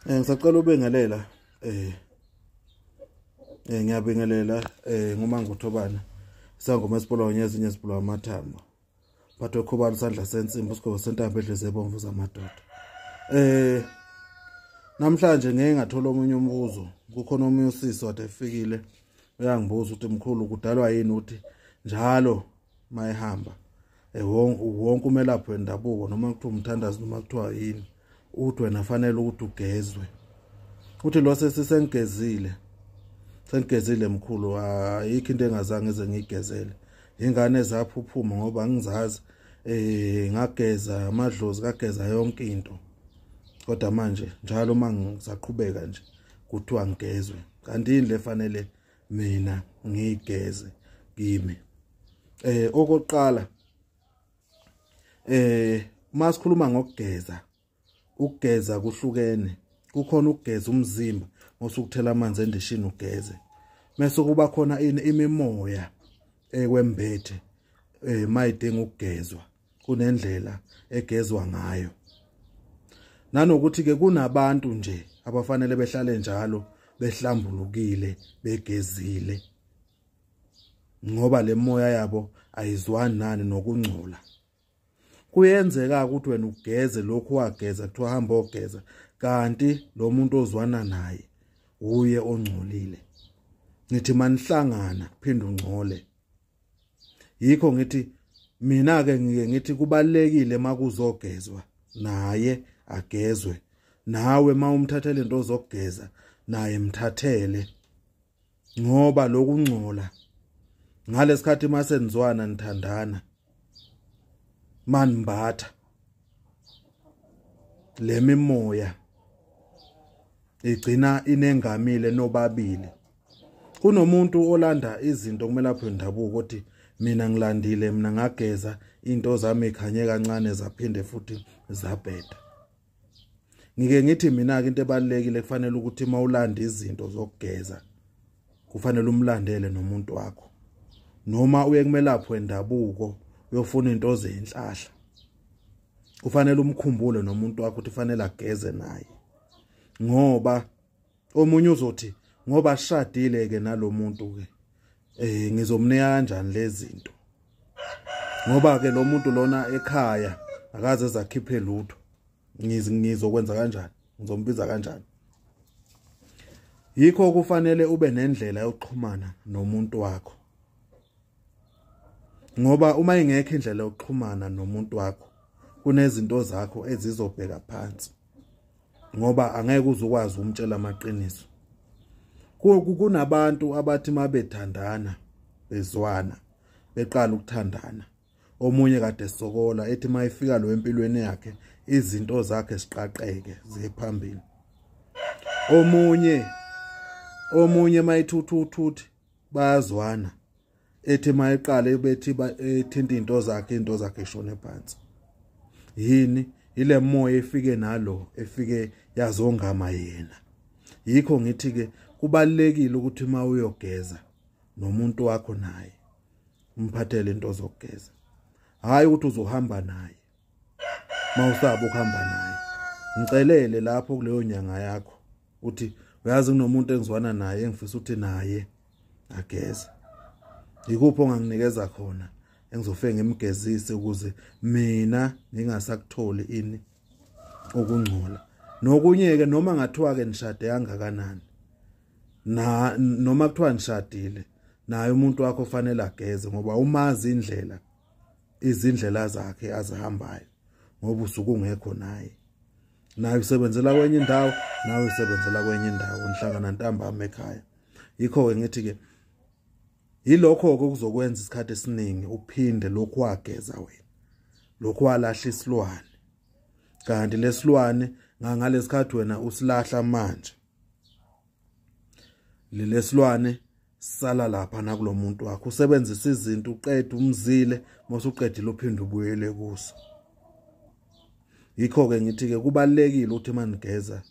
Eh ngisacela ubengelela eh eh ngiyabingelela eh ngumanguthobana sangoma sibulawa nyezinye sibulawa amathambo bathwe khubani sandla sensimbi usigoko sentambo edleze ebomvu zamadoda eh namhlanje ngeke ngathola omunye umbuzo kukhona omunye usisi wade efikile uyangibuza ukuthi mkhulu kudalwa yini ukuthi njalo mayihamba eh, wonke umelaphi wendabuko noma kuthiwa umthandazi noma kuthiwa yini uthi wena fanele ukuthi ugezwe uthi lo sesisengigezile sengigezile mkhulu ayikho into engazange ize ngiyigezele ingane zaphuphuma ngoba ngizazi eh ngageza amadlozi kageza yonke into kodwa manje njalo uma ngisaqhubeka nje kuthiwa ngigezwe kanti yini lefanele mina ngigeze kimi eh okoqala eh uma sikhuluma ngokugeza ukugeza kuhlukene kukhona ukugeza umzimba ngosukuthela amanzi endishini ugeze mese kuba khona ini imimoya ekwembethe eh mayidinga ukugezwa kunendlela egezwa ngayo nanokuthi ke kunabantu nje abafanele behlale njalo behlambulukile begezile ngoba lemoya yabo ayizwani nani nokungcola kuyenzeka ukuthi wena ugeze lokhu wageza kuthiwa hamba ogeza kanti lo muntu ozwana naye wuye ongcolile ngithi manihlangana phinde ungcole yikho ngithi mina ke ngike ngithi kubalekile makuzogezwa naye agezwe nawe mawumthathele into zokugeza naye mthathele ngoba lokungcola ngalesikhathi masenzwana nithandana manimbatha lemimoya igcina inengamile nobabili kunomuntu olanda izinto kumele aphe ndabuko ukuthi mina ngilandile mina ngageza into zami ikhanye kancane zaphinde futhi zabheda ngike ngithi mina ke into ebalekile kufanele ukuthi mawulanda izinto zokugeza kufanele umlandele nomuntu wakho noma uye kumelapho endabuko uyofuna into zenhlahla kufanele umkhumbule nomuntu wakho ukuthi fanele ageze naye ngoba omunye uzothi ngoba shadile ke nalomuntu ke eh ngizomnika kanjani lezinto ngoba ke lo muntu lona ekhaya akaze zakhiphe lutho ngizokwenza kanjani ngizombiza kanjani yikho kufanele ube nendlela yokuxhumana nomuntu wakho ngoba uma ingekho indlela yokuxhumana nomuntu wakho kunezinto zakho ezizobheka phansi ngoba angeke uzukwazi ukumtshela amaqiniso kunabantu abathi mabethandana bezwana beqala ukuthandana omunye kade sokola ethi mayifika lo empilweni yakhe izinto zakhe siqaqeke ziye phambili omunye omunye mayithutha uthuthi bayazwana ethi mayeqale bethi ethinta into zakhe into zakhe shone phansi yini ile moya efike nalo efike yazongama yena yikho ngithi ke kubalekile ukuthi uma uyogeza nomuntu wakho naye umphathele into zokugeza hayi ukuthi uzohamba naye mawusaba ukuhamba naye ngicelele lapho kuleyo nyanga yakho uthi uyazi kunomuntu engizwana naye engifisa ukuthi naye ageze yikuphi onganginikeza khona engizofike ngimgezise ukuze mina ngingasakutholi ini ukungcola nokunye ke noma ngathiwa ke nishade kangakanani na noma kuthiwa nishadile naye umuntu wakho fanele ageze ngoba umazi indlela izindlela zakhe azihambayo ngoba usuke ungekho naye naye usebenzela kwenye indawo nawe usebenzela kwenye indawo nihlangana ntambama ekhaya yikho-ke ngithi-ke yilokho-ke okuzokwenza isikhathi esiningi uphinde lokhu wageza wena lokhu walahla isilwane kanti lesilwane ngangalesi khathi wena usilahla manje lelesilwane sala lapha nakulomuntu wakho usebenzisa izinto uqede umzile mase uqedile uphinde ubuyele kuso yikho ke ngithi ke kubalekile ukuthi manigeza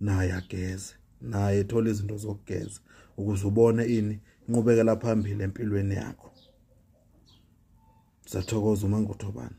naye ageze naye ethola izinto zokugeza ukuze ubone ini inqubekela phambili empilweni yakho sathokoza uma nguthobana